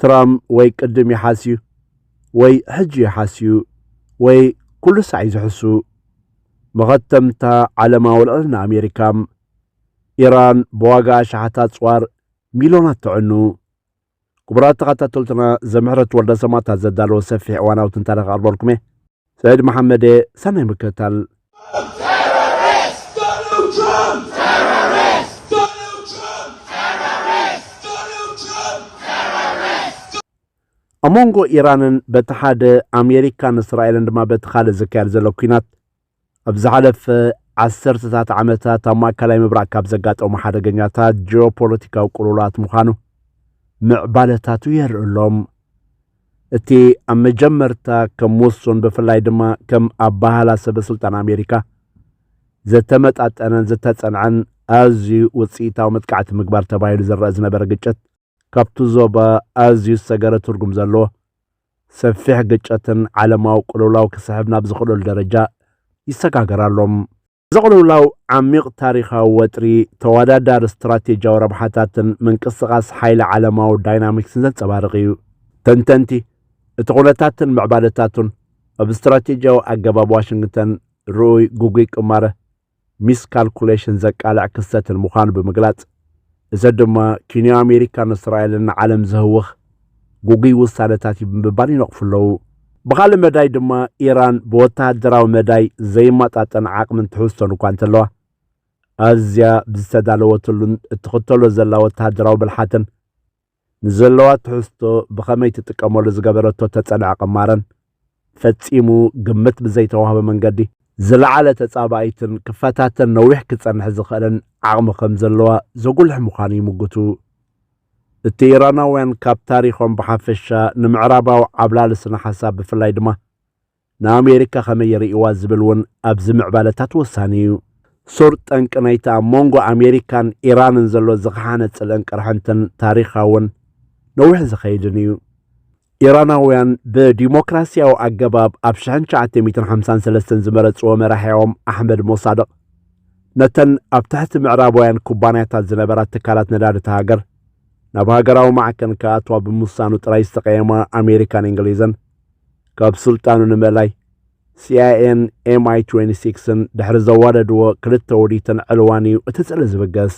ትራም ወይ ቅድም ይሓስዩ ወይ ሕጂ ይሓስዩ ወይ ኩሉ ሳዕ እዩ ዝሕሱ። መኸተምታ ዓለማዊ ልዕልና ኣሜሪካ። ኢራን ብዋጋ ኣሽሓት ኣጽዋር ሚልዮናት ተዕኑ። ክቡራት ተኸታተልትና ዘምሕረት ወልደ ሰማእታት ዘዳለወ ሰፊሕ እዋናዊ ትንታነ ክቐርበልኩም እየ ሰዒድ መሓመድ እየ ሰናይ ምክትታል ኣብ መንጎ ኢራንን በቲ ሓደ ኣሜሪካን እስራኤልን ድማ በቲ ካልእ ዝካየድ ዘሎ ኲናት ኣብ ዝሓለፈ ዓሰርተታት ዓመታት ኣብ ማእከላይ ምብራቕ ካብ ዘጋጠሙ ሓደገኛታት ጂኦፖለቲካዊ ቅልውላት ምዃኑ ምዕባለታቱ የርኢ ኣሎም እቲ ኣብ መጀመርታ ከም ውሱን ብፍላይ ድማ ከም ኣባህላ ሰበስልጣን ኣሜሪካ ዘተመጣጠነን ዝተጸንዐን ኣዝዩ ውጽኢታዊ መጥቃዕቲ ምግባር ተባሂሉ ዝረአ ዝነበረ ግጭት ካብቲ ዞባ ኣዝዩ ዝሰገረ ትርጉም ዘለዎ ሰፊሕ ግጭትን ዓለማዊ ቅልውላው ክስሕብ ናብ ዝኽእለሉ ደረጃ ይሰጋገር ኣሎ። እዚ ቅልውላው ዓሚቕ ታሪኻዊ ወጥሪ፣ ተወዳዳሪ ስትራቴጂያዊ ረብሓታትን ምንቅስቓስ ሓይሊ ዓለማዊ ዳይናሚክስን ዘንጸባርቕ እዩ። ተንተንቲ፣ እቲ ኩነታትን ምዕባለታቱን ኣብ ስትራቴጂያዊ ኣገባብ ዋሽንግተን ርኡይ ግጉይ ቅማረ ሚስ ካልኩሌሽን ዘቃልዕ ክስተትን ምዃኑ ብምግላጽ፣ እዚ ድማ ኪንዮ ኣሜሪካን እስራኤልን ንዓለም ዘህውኽ ግጉይ ውሳነታት እዩ ብምባል ይነቕፉ ኣለዉ። ብኻልእ መዳይ ድማ ኢራን ብወተሃደራዊ መዳይ ዘይማጣጠን ዓቕምን ትሕዝቶን እኳ እንተለዋ፣ ኣዝያ ብዝተዳለወትሉን እትኽተሎ ዘላ ወተሃደራዊ ብልሓትን፣ ንዘለዋ ትሕዝቶ ብኸመይ ትጥቀመሉ ዝገበረቶ እተጸንዐ ቅማረን፣ ፈጺሙ ግምት ብዘይተዋህቦ መንገዲ፣ ዝለዓለ ተጻባኢትን ክፈታተን ነዊሕ ክጸንሕ ዝኽእልን ዓቕሚ ከም ዘለዋ ዘጉልሕ ምዃኑ ይምጉቱ። እቲ ኢራናውያን ካብ ታሪኾም ብሓፈሻ፣ ንምዕራባዊ ዓብላሊ ስነ-ሓሳብ ብፍላይ ድማ፣ ንኣሜሪካ ከመይ ይርእይዋ ዝብል እውን ኣብዚ ምዕባለታት ወሳኒ እዩ። ሱር ጠንቂ ናይቲ ኣብ መንጎ ኣሜሪካን ኢራንን ዘሎ ዝኸሓነ ጽልእን ቅርሕንትን ታሪኻውን ነዊሕ ዝኸይድን እዩ። ኢራናውያን ብዲሞክራሲያዊ ኣገባብ ኣብ ሽሕን ትሽዓተ ሚእትን ሓምሳን ሰለስተን ዝመረጽዎ መራሒኦም ኣሕመድ ሞሳድቕ ነተን ኣብ ትሕቲ ምዕራባውያን ኩባንያታት ዝነበራ ትካላት ነዳድቲ ሃገር ናብ ሃገራዊ ማዕከን ክኣትዋ ብምውሳኑ ጥራይ ዝተቐየማ ኣሜሪካን እንግሊዝን ካብ ስልጣኑ ንመላይ ሲኣይኤን ኤምኣይ 26ን ድሕሪ ዘዋደድዎ ክልተ ውዲትን ዕልዋን እዩ እቲ ጽልኢ ዝብገስ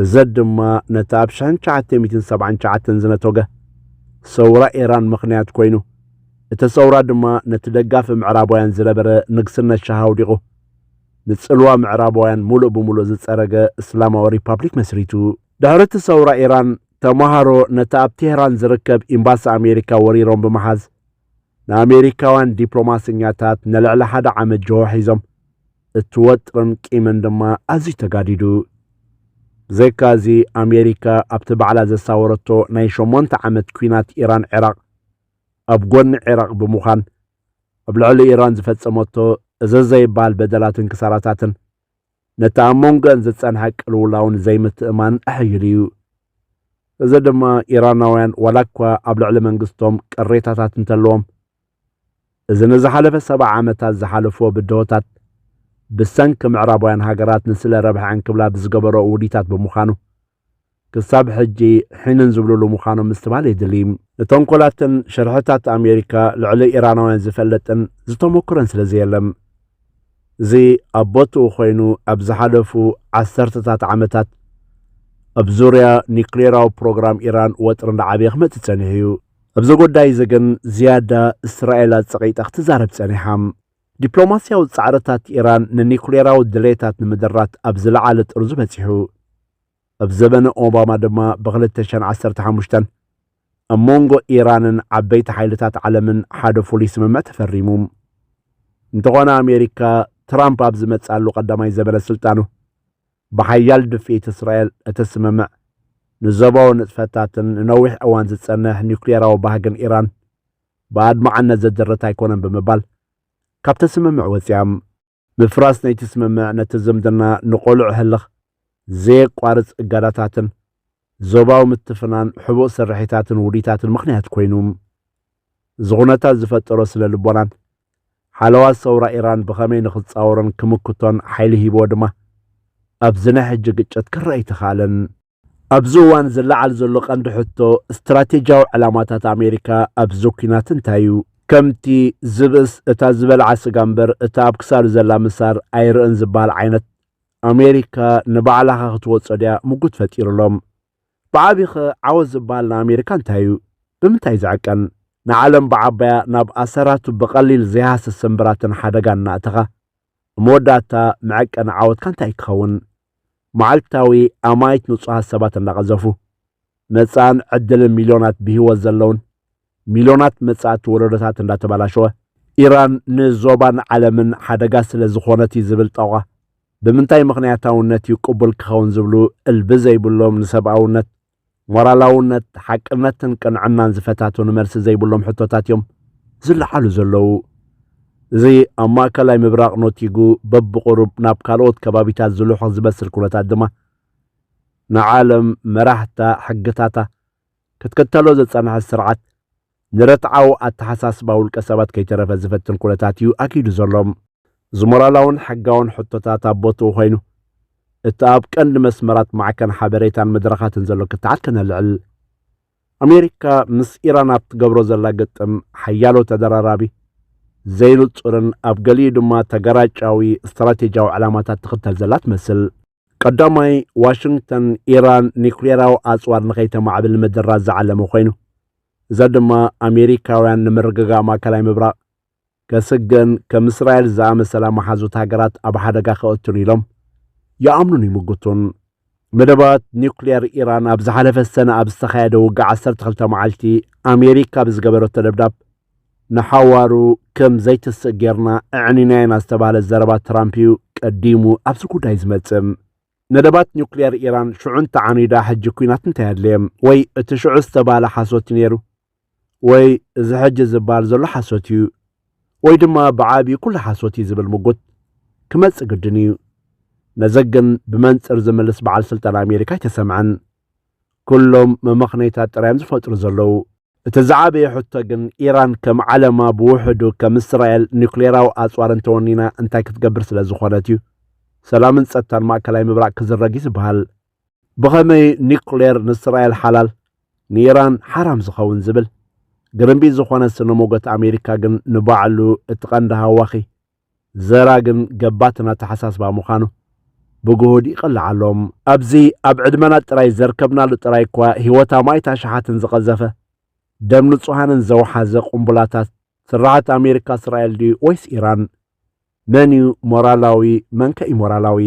እዚ ድማ ነቲ ኣብ 1979 ዝነቶገ ሰውራ ኢራን ምኽንያት ኮይኑ እቲ ሰውራ ድማ ነቲ ደጋፊ ምዕራባውያን ዝነበረ ንግስነት ሻህ ኣውዲቑ ንጽልዋ ምዕራባውያን ሙሉእ ብሙሉእ ዝጸረገ እስላማዊ ሪፓብሊክ መስሪቱ። ድሕሪ እቲ ሰውራ ኢራን ተማሃሮ ነቲ ኣብ ቴህራን ዝርከብ ኤምባሲ ኣሜሪካ ወሪሮም ብምሓዝ ንኣሜሪካውያን ዲፕሎማሰኛታት ንልዕሊ ሓደ ዓመት ጅሆ ሒዞም እቲ ወጥርን ቂምን ድማ ኣዝዩ ተጋዲዱ ብዘይካ እዚ ኣሜሪካ ኣብቲ ባዕላ ዘሳወረቶ ናይ ሸሞንተ ዓመት ኩናት ኢራን ዒራቕ ኣብ ጎኒ ዒራቕ ብምዃን ኣብ ልዕሊ ኢራን ዝፈጸመቶ እዚ ዘይበሃል በደላትን ክሳራታትን ነቲ ኣብ መንጎአን ዝጸንሐ ቅልውላውን ዘይምትእማንን ኣሐይሉ እዩ። እዚ ድማ ኢራናውያን ዋላ እኳ ኣብ ልዕሊ መንግስቶም ቅሬታታት እንተለዎም እዚ ንዝሓለፈ ሰብዓ ዓመታት ዝሓለፍዎ ብድሆታት ብሰንኪ ምዕራባውያን ሃገራት ንስለ ረብሐዐን ክብላ ብዝገበረኦ ውዲታት ብምዃኑ ክሳብ ሕጂ ሒንን ዝብሉሉ ምዃኖም ምስትባል የድሊ። ንተንኮላትን ሸርሕታት ኣሜሪካ ልዕሊ ኢራናውያን ዝፈልጥን ዝተሞክረን ስለ ዘየለም። እዚ ኣብ ቦትኡ ኮይኑ ኣብ ዝሓለፉ ዓሰርተታት ዓመታት ኣብ ዙርያ ኒክሌራዊ ፕሮግራም ኢራን ወጥሪ እንዳዓበየ ክመጽእ ጸኒሑ እዩ። ኣብዚ ጉዳይ እዚ ግን ዝያዳ እስራኤል ኣጸቒጣ ክትዛረብ ጸኒሓ። ዲፕሎማስያዊ ጻዕርታት ኢራን ንኒዩክሌራዊ ድሌታት ንምድራት ኣብ ዝለዓለ ጥርዙ በጺሑ። ኣብ ዘበነ ኦባማ ድማ ብ2015 ኣብ መንጎ ኢራንን ዓበይቲ ሓይልታት ዓለምን ሓደ ፍሉይ ስምምዕ ተፈሪሙ። እንተኾነ ኣሜሪካ ትራምፕ ኣብ ዝመጽኣሉ ቀዳማይ ዘበነ ስልጣኑ ብሓያል ድፍኢት እስራኤል እቲ ስምምዕ ንዞባዊ ንጥፈታትን ንነዊሕ እዋን ዝጸንሕ ኒዩክሌራዊ ባህግን ኢራን ብኣድማዕነት ዘደረት ኣይኮነን ብምባል ካብቲ ስምምዕ ወጺኣም። ምፍራስ ነይቲ ስምምዕ ነቲ ዝምድና ንቐሉዕ ህልኽ፣ ዘየቋርጽ እጋዳታትን ዞባዊ ምትፍናን ሕቡእ ስርሒታትን ውዲታትን ምኽንያት ኮይኑ። እዚ ኩነታት ዝፈጠሮ ስነ ልቦናን ሓለዋ ሰውራ ኢራን ብኸመይ ንኽጻወሮን ክምክቶን ሓይሊ ሂብዎ ድማ ኣብዚ ናይ ሕጂ ግጭት ክረኣ ኣይተኻእለን። ኣብዚ እዋን ዝለዓል ዘሎ ቀንዲ ሕቶ ስትራቴጂያዊ ዕላማታት ኣሜሪካ ኣብዚ ኲናት እንታይ እዩ? ከምቲ ዝብእስ እታ ዝበልዓ ስጋ እምበር እታ ኣብ ክሳዱ ዘላ ምሳር ኣይርእን ዝበሃል ዓይነት፣ ኣሜሪካ ንባዕላኸ ክትወጾ ድያ? ምጉት ፈጢሩሎም። ብዓቢኸ ዓወት ዝበሃል ንኣሜሪካ እንታይ እዩ? ብምንታይ ዝዕቀን? ንዓለም ብዓባያ ናብ ኣሰራቱ ብቐሊል ዘይሃስስ ስምብራትን ሓደጋን እናእተኻ፣ ኣብ መወዳእታ መዐቀኒ ዓወትካ እንታይ ክኸውን? መዓልታዊ ኣማኢት ንጹሃት ሰባት እንዳቐዘፉ፣ መጻእን ዕድልን ሚልዮናት ብህይወት ዘለዉን፣ ሚልዮናት መጻእቲ ወለዶታት እንዳተበላሸወ፣ ኢራን ንዞባን ዓለምን ሓደጋ ስለ ዝኾነት እዩ ዝብል ጠቋ ብምንታይ ምኽንያታውነት እዩ ቅቡል ክኸውን ዝብሉ እልቢ ዘይብሎም ንሰብኣውነት ሞራላውነት፣ ሓቅነትን ቅንዕናን ዝፈታተኑ መልሲ ዘይብሎም ሕቶታት እዮም ዝለዓሉ ዘለዉ። እዚ ኣብ ማእከላይ ምብራቕ ኖቲጉ በብቑሩብ ናብ ካልኦት ከባቢታት ዝልሑኽ ዝመስል ኩነታት ድማ ንዓለም መራሕታ ሕግታታ ክትክተሎ ዝጸንሐት ስርዓት ንረትዓዊ ኣተሓሳስባ ውልቀ ሰባት ከይተረፈ ዝፈትን ኩነታት እዩ ኣግሂዱ ዘሎ። እዚ ሞራላውን ሕጋውን ሕቶታት ኣብ ቦትኡ ኮይኑ፣ እቲ ኣብ ቀንዲ መስመራት ማዕከን ሓበሬታን መድረኻትን ዘሎ ክትዓት ከነልዕል። ኣሜሪካ ምስ ኢራን ኣብ ትገብሮ ዘላ ግጥም ሓያሎ ተደራራቢ፣ ዘይንጹርን ኣብ ገሊኡ ድማ ተገራጫዊ ስትራቴጂያዊ ዕላማታት ትኽተል ዘላ ትመስል። ቀዳማይ፣ ዋሽንግተን ኢራን ኒኩሌራዊ ኣጽዋር ንኸይተማዕብል ምድራት ዝዓለመ ኮይኑ፣ እዚ ድማ ኣሜሪካውያን ንምርግጋእ ማእከላይ ምብራቕ ከስግእን ከም እስራኤል ዝኣመሰላ መሓዙት ሃገራት ኣብ ሓደጋ ከእቱን ኢሎም ይኣምኑን ይምጉቱን። መደባት ኒኩሌር ኢራን ኣብ ዝሓለፈ ሰነ ኣብ ዝተኻየደ ውግእ ዓሰርተ ክልተ መዓልቲ ኣሜሪካ ብዝገበረቶ ደብዳብ ንሓዋሩ ከም ዘይትስእ ጌርና ኣዕኒና ኢና ዝተባህለ ዘረባ ትራምፕ እዩ ቀዲሙ ኣብዚ ጉዳይ ዝመጽእ። ነደባት ኒውክሌር ኢራን ሽዑ እንተዓኒዳ ሕጂ ኲናት እንታይ ኣድለየ? ወይ እቲ ሽዑ ዝተባህለ ሓሶት እዩ ነይሩ? ወይ እዚ ሕጂ ዝበሃል ዘሎ ሓሶት እዩ? ወይ ድማ ብዓቢኡ ኩሉ ሓሶት እዩ ዝብል ምጉት ክመጽእ ግድን እዩ። ነዚ ግን ብመንጽር ዝምልስ በዓል ስልጣን ኣሜሪካ ኣይተሰምዐን። ኩሎም መመኽነይታት ጥራዮም ዝፈጥሩ ዘለዉ። እቲ ዝዓበየ ሕቶ ግን ኢራን ከም ዓለማ ብውሕዱ ከም እስራኤል ኒውክሌራዊ ኣጽዋር እንተወኒና እንታይ ክትገብር ስለ ዝኾነት እዩ ሰላምን ጸጥታን ማእከላይ ምብራቕ ክዝረግ እዩ ዝበሃል። ብኸመይ ኒውክሌር ንእስራኤል ሓላል ንኢራን ሓራም ዝኸውን ዝብል ግርምቢጥ ዝኾነ ስነ ሞጎት ኣሜሪካ ግን ንባዕሉ እቲ ቀንዲ ሃዋኺ ዘራግን ገባትን ኣተሓሳስባ ምዃኑ ብግሁድ ይቕላዕ ኣሎ። ኣብዚ ኣብ ዕድመና ጥራይ ዘርከብናሉ ጥራይ እኳ ህይወት ኣማኢት ኣሽሓትን ዝቐዘፈ፣ ደም ንጹሃንን ዘውሓዘ ቁምቡላታት ስርዓት ኣሜሪካ እስራኤል ድዩ ወይስ ኢራን? መን'ዩ ሞራላዊ መንከ ኢሞራላዊ?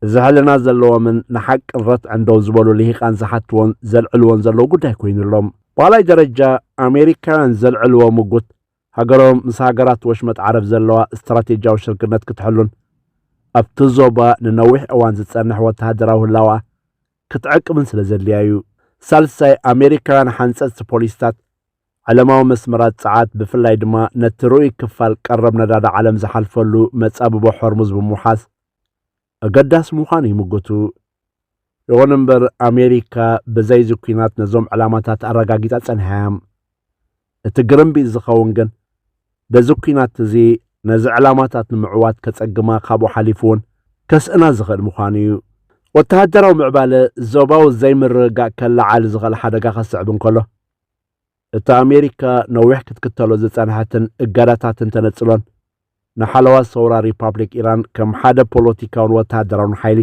እዚ ሕልና ዘለዎምን ንሓቅን ረትዕን ደው ዝበሉ ልሂቃን ዝሓትዎን ዘልዕልዎን ዘለዉ ጉዳይ ኮይኑ ኣሎ። ብኻልኣይ ደረጃ ኣሜሪካውያን ዘልዕልዎ ምጉት ሃገሮም ምስ ሃገራት ወሽመጥ ዓረብ ዘለዋ ስትራቴጂያዊ ሽርክነት ክትሕሉን ኣብቲ ዞባ ንነዊሕ እዋን ዝጸንሕ ወተሃደራዊ ህላወኣ ክትዕቅብን ስለ ዘድልያ እዩ። ሳልሳይ፣ ኣሜሪካውያን ሓንጸጽቲ ፖሊሲታት ዓለማዊ መስመራት ጸዓት ብፍላይ ድማ ነቲ ርኡይ ክፋል ቀረብ ነዳዲ ዓለም ዝሓልፈሉ መጻብቦ ሆርሙዝ ብምውሓስ ኣገዳሲ ምዃኑ ይምጉቱ። ይኹን እምበር ኣሜሪካ ብዘይዚ ኲናት ነዞም ዕላማታት ኣረጋጊጻ ጸኒሓ እያ። እቲ ግርምቢጥ ዝኸውን ግን በዚ ኲናት እዚ ነዚ ዕላማታት ንምዕዋት ከጸግማ ካብኡ ሓሊፉ እውን ከስእና ዝኽእል ምዃኑ እዩ። ወተሃደራዊ ምዕባለ ዞባዊ ዘይምርግጋእ ከለዓዕል ዝኽእል ሓደጋ ከስዕብ እንከሎ፣ እቲ ኣሜሪካ ነዊሕ ክትክተሎ ዝጸንሐትን እገዳታትን ተነጽሎን ንሓለዋ ሰውራ ሪፓብሊክ ኢራን ከም ሓደ ፖለቲካውን ወተሃደራውን ሓይሊ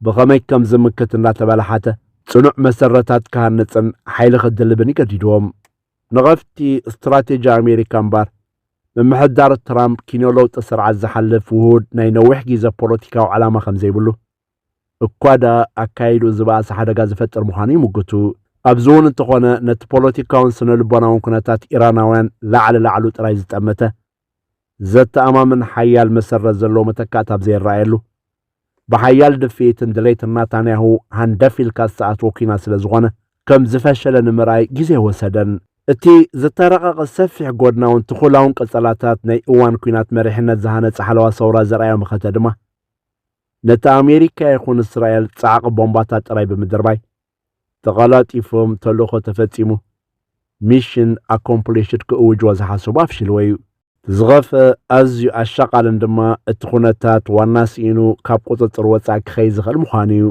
ብኸመይ ከም ዝምክት እናተበላሓተ ጽኑዕ መሰረታት ክሃንጽን ሓይሊ ክድልብን ይገዲድዎም። ንቐፍቲ ስትራቴጂ ኣሜሪካ እምበር ምምሕዳር ትራምፕ ኪኖ ለውጢ ስርዓት ዝሓልፍ ውሁድ ናይ ነዊሕ ግዜ ፖለቲካዊ ዕላማ ከም ዘይብሉ እኳ ደኣ ኣካይድኡ ዝበኣሰ ሓደጋ ዝፈጥር ምዃኑ ይምጉቱ። ኣብዚ እውን እንተኾነ ነቲ ፖለቲካውን ስነ ልቦናውን ኩነታት ኢራናውያን ላዕሊ ላዕሉ ጥራይ ዝጠመተ፣ ዘተኣማምን ሓያል መሰረት ዘለዎ መተካእታ ኣብ ዘይረኣየሉ፣ ብሓያል ድፍኢትን ድሌትን ናታንያሁ ሃንደፍ ኢልካ ዝተኣትወ ኲናት ስለ ዝኾነ፣ ከም ዝፈሸለ ንምርኣይ ግዜ ኣይወሰደን። እቲ ዝተራቐቐ ሰፊሕ ጎድናውን ትኹላውን ቀጸላታት ናይ እዋን ኲናት መሪሕነት ዝሃነጸ ሓለዋ ሰውራ ዘርኣዮ መኸተ ድማ፣ ነቲ ኣሜሪካ ይኹን እስራኤል ጻዕቒ ቦምባታት ጥራይ ብምድርባይ ተቐላጢፎም ተልእኾ ተፈጺሙ ሚሽን ኣኮምፕሊሽድ ክእውጅዎ ዝሓሰቡ ኣፍሽልዎ እዩ። ዝኸፈ ኣዝዩ ኣሻቓልን ድማ እቲ ኩነታት ዋና ስኢኑ ካብ ቁጽጽር ወጻእ ክኸይድ ዝኽእል ምዃኑ እዩ።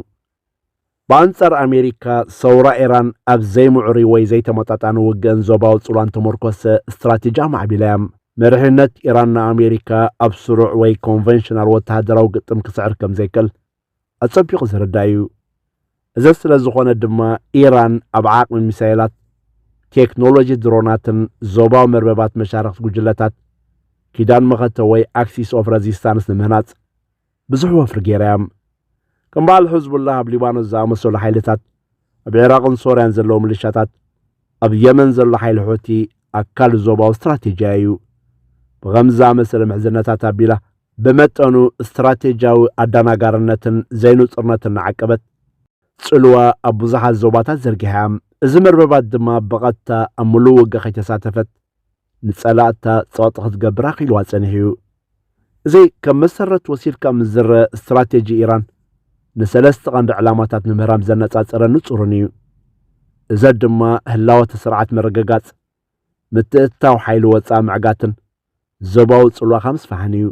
ብኣንጻር ኣሜሪካ፣ ሰውራ ኤራን ኣብ ዘይምዑሩይ ወይ ዘይተመጣጣኒ ውግእን ዞባዊ ጽልዋን ተመርኮሰ ስትራቴጂ ኣማዕቢላ እያ። መሪሕነት ኢራን ንኣሜሪካ ኣብ ስሩዕ ወይ ኮንቨንሽናል ወተሃደራዊ ግጥም ክስዕር ከም ዘይክእል ኣጸቢቑ ዝርዳእ እዩ። እዚ ስለ ዝኾነ ድማ ኢራን ኣብ ዓቕሚ ሚሳይላት፣ ቴክኖሎጂ ድሮናትን ዞባዊ መርበባት መሻርኽቲ ጉጅለታት ኪዳን መኸተ ወይ ኣክሲስ ኦፍ ረዚስታንስ ንምህናጽ ብዙሕ ወፍሪ ገይራ'ያም። ከም በዓል ሕዝቡላህ ኣብ ሊባኖስ ዝኣመሰሉ ሓይልታት፣ ኣብ ዒራቕን ሶርያን ዘለዉ ምልሻታት፣ ኣብ የመን ዘሎ ሓይሊ ሑቲ ኣካል ዞባዊ ስትራቴጂያ ኢዩ። ብኸምዚ ዝኣመሰለ ምሕዝነታት ኣቢላ፣ ብመጠኑ ስትራቴጂያዊ ኣዳናጋርነትን ዘይንጹርነትን እናዓቀበት፣ ጽልዋ ኣብ ብዙሓት ዞባታት ዘርጊሓ'ያም። እዚ መርበባት ድማ ብቐጥታ ኣብ ምሉእ ውግእ ከይተሳተፈት፣ ንጸላእታ ጸቕጢ ክትገብር ኣኽኢልዋ ጸኒሑ እዩ። እዚ ከም መሰረት ወሲድካ ምስ ዝረአ ስትራቴጂ ኢራን ንሰለስተ ቀንዲ ዕላማታት ንምህራም ዘነጻጸረ ንጹርን እዩ። እዘ ድማ ህላወተ ስርዓት ምርግጋጽ፣ ምትእትታው ሓይሊ ወጻኢ ምዕጋትን ዞባዊ ጽልዋኻ ምስፋሕን እዩ።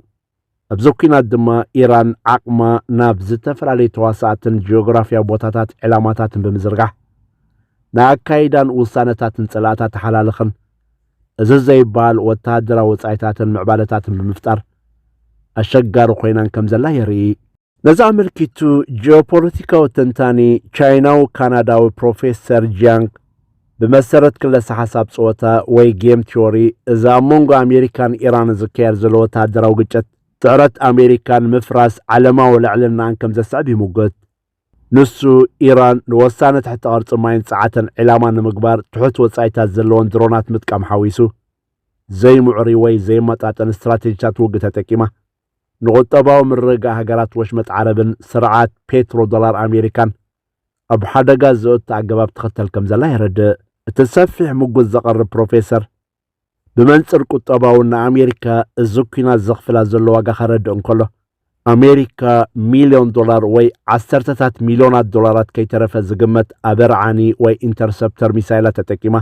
ኣብዚ ኲናት ድማ ኢራን ዓቕማ ናብ ዝተፈላለዩ ተዋሳእትን ጂኦግራፍያዊ ቦታታት ዕላማታትን ብምዝርጋሕ ንኣካይዳን ውሳነታትን ጸላእታ ተሓላልኽን እዚ ዘይበሃል ወተሃደራዊ ወጻኢታትን ምዕባለታትን ብምፍጣር ኣሸጋሪ ኮይናን ከም ዘላ የርኢ። ነዚ ኣመልኪቱ ጂኦፖለቲካዊ ተንታኒ ቻይናዊ ካናዳዊ ፕሮፌሰር ጂያንግ ብመሰረት ክለሳ ሓሳብ ጸወታ ወይ ጌም ቲዮሪ እዚ ኣብ መንጎ ኣሜሪካን ኢራንን ዝካየድ ዘሎ ወተሃደራዊ ግጭት ጥዕረት ኣሜሪካ ንምፍራስ ዓለማዊ ልዕልናኣን ከም ዘስዕብ ይምጉት። ንሱ ኢራን ንወሳነ ትሕቲ ቅርጺ ማይን ጸዓተን ዒላማ ንምግባር ትሑት ወጻኢታት ዘለዎን ድሮናት ምጥቃም ሓዊሱ ዘይምዑሪ ወይ ዘይመጣጠን ስትራቴጂታት ውግእ ተጠቂማ ንቑጠባዊ ምርግጋእ ሃገራት ወሽመጥ ዓረብን ስርዓት ፔትሮ ዶላር ኣሜሪካን ኣብ ሓደጋ ዘእቱ ኣገባብ ትኽተል ከምዘላ የረድእ። እቲ ሰፊሕ ምጉት ዘቕርብ ፕሮፌሰር፣ ብመንጽር ቁጠባውን ንኣሜሪካ እዚ ኲናት ዘኽፍላ ዘሎ ዋጋ ከረድእ እንከሎ፣ ኣሜሪካ ሚልዮን ዶላር ወይ ዓሰርተታት ሚልዮናት ዶላራት ከይተረፈ ዝግመት ኣበርዓኒ ወይ ኢንተርሰፕተር ሚሳይላት ተጠቂማ፣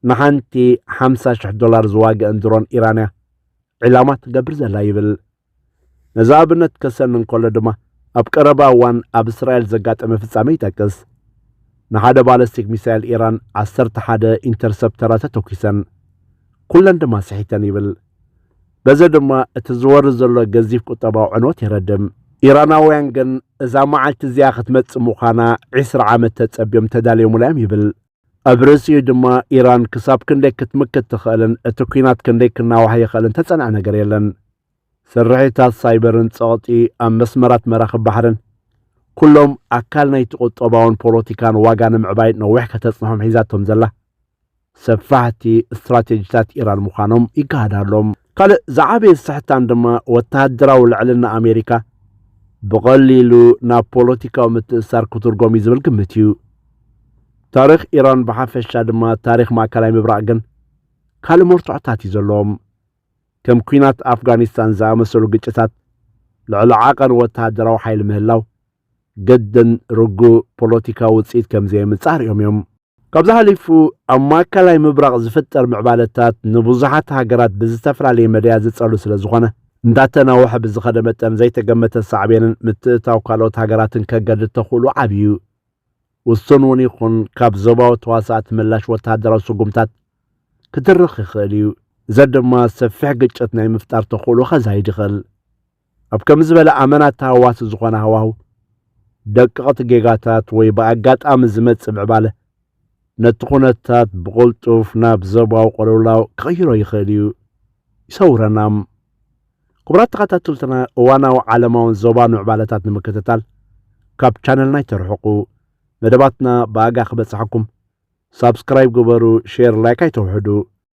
ንሓንቲ ሓምሳ ሽሕ ዶላር ዝዋግእን ድሮን ኢራን እያ ዒላማ ትገብር ዘላ ይብል። ነዚ ኣብነት ከሰኒ እንከሎ ድማ ኣብ ቀረባ እዋን ኣብ እስራኤል ዘጋጠመ ፍጻሜ ይጠቅስ። ንሓደ ባለስቲክ ሚሳኤል ኢራን ዓሰርተ ሓደ ኢንተርሰፕተራ ተተኲሰን ኩለን ድማ ስሒተን ይብል። በዚ ድማ እቲ ዝወሪ ዘሎ ገዚፍ ቁጠባዊ ዕንወት የረድም። ኢራናውያን ግን እዛ መዓልቲ እዚኣ ክትመጽእ ምዃና ዕስራ ዓመት ተጸብዮም ተዳልዮሙላ እዮም ይብል። ኣብ ርእሲኡ ድማ ኢራን ክሳብ ክንደይ ክትምክት ትኽእልን እቲ ኲናት ክንደይ ክናዋሕ ይኽእልን እተጸንዐ ነገር የለን። ስርሒታት ሳይበርን ጸቕጢ ኣብ መስመራት መራኽብ ባሕርን ኩሎም ኣካል ናይቲ ቁጠባውን ፖለቲካን ዋጋ ንምዕባይ ነዊሕ ከተጽንሖም ሒዛቶም ዘላ ሰፋሕቲ ስትራቴጂታት ኢራን ምዃኖም ይገሃድ ኣሎም። ካልእ ዝዓበየ ስሕታን ድማ ወተሃደራዊ ልዕልና ኣሜሪካ ብቐሊሉ ናብ ፖለቲካዊ ምትእስሳር ክትርጎም እዩ ዝብል ግምት እዩ። ታሪኽ ኢራን ብሓፈሻ ድማ ታሪኽ ማእከላይ ምብራቕ ግን ካልእ መርትዖታት እዩ ዘለዎም። ከም ኲናት ኣፍጋኒስታን ዝኣመሰሉ ግጭታት ልዕሊ ዓቐን ወተሃደራዊ ሓይሊ ምህላው ግድን ርጉእ ፖለቲካዊ ውጽኢት ከም ዘየምጽእ ኣርእዮም እዮም። ካብዚ ሓሊፉ ኣብ ማእከላይ ምብራቕ ዝፍጠር ምዕባለታት ንብዙሓት ሃገራት ብዝተፈላለየ መዳያት ዝጸሉ ስለ ዝኾነ፣ እንዳተናወሐ ብዝኸደ መጠን ዘይተገመተ ሳዕቤንን ምትእትታው ካልኦት ሃገራትን ከገድድ ተኽእሎኡ ዓቢ'ዩ። ውሱን እውን ይኹን ካብ ዞባዊ ተዋሳእቲ ምላሽ ወተሃደራዊ ስጉምታት ክትርኽ ይኽእል እዩ። እዚ ድማ ሰፊሕ ግጭት ናይ ምፍጣር ተኽእሎኡ ከዛይድ ይኽእል። ኣብ ከምዚ ዝበለ ኣመና ተሃዋሲ ዝኾነ ሃዋሁ፣ ደቀቕቲ ጌጋታት ወይ ብኣጋጣሚ ዝመጽእ ምዕባለ ነቲ ኩነታት ብቕልጡፍ ናብ ዞባዊ ቅልውላው ክቕይሮ ይኽእል እዩ። ይሰውረና። ክቡራት ተኸታተልትና እዋናዊ ዓለማውን ዞባን ምዕባለታት ንምክትታል ካብ ቻነልና ኣይተርሕቁ። መደባትና ብኣጋ ክበጽሓኩም ሳብስክራይብ ግበሩ፣ ሼር ላይክ ኣይተውሕዱ።